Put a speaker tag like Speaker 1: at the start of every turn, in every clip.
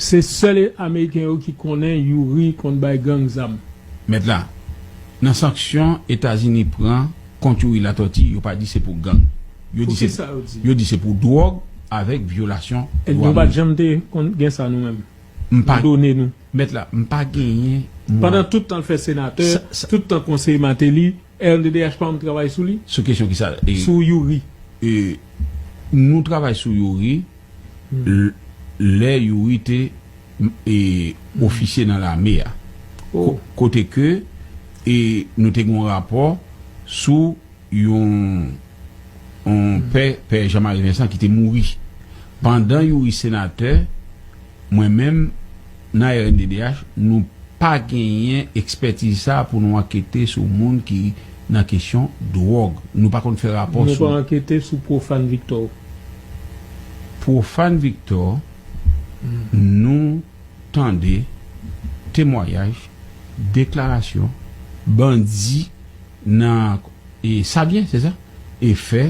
Speaker 1: Se sèl ameriken yo ki konnen youri konn bay gang zam. Mèt la,
Speaker 2: nan sanksyon Etazini pran kont Youri Latortue yo pa di se pou gang. Yo di se pou yo di se pou dwòg avèk vyolasyon dwa moun. Nou pa janm te
Speaker 1: konn gen sa nou menm. M pa done
Speaker 2: nou. Mèt
Speaker 1: la, m pa
Speaker 2: genyen mwa. Pandan tout tan l
Speaker 1: fè senatè, tout tan konseye Martelly, Rnddh pa anm travay sou li. Sou kesyon kisa? Sou
Speaker 2: youri. Nou travay sou youri lè youri te ofisye nan lame a kote ke nou te gen yon rapò sou yon pè pè Jean Marie Vincent ki te mouri pandan youri senatè Mwen menm, nan rnddh, nou pa genyen ekspètiz sa a pou nou ankete sou moun ki nan kesyon dwòg. Nou pa konn fè rapò sou. Nou pa ankete sou
Speaker 1: Profane Victor. Profane
Speaker 2: Victor, nou tande temwayaj, deklarasyon, bandi nan Savyen, se sa? Efè.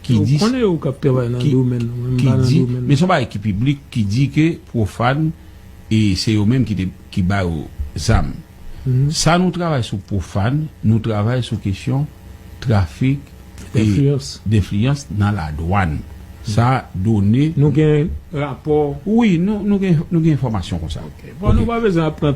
Speaker 2: Ki di, ki di, men son bagay ki piblik ki di ke Profane e se yo menm ki te, ki ba yo zam. Sa nou travay sou Profane, nou travay sou kesyon trafik e denfliyans nan ladwann. Sa done. Nou gen
Speaker 1: rapò? Wi, nou
Speaker 2: gen,
Speaker 1: nou
Speaker 2: gen enfòmasyon
Speaker 1: konsa. Ok.
Speaker 2: Bon, nou
Speaker 1: pa bezwen
Speaker 2: ap pran.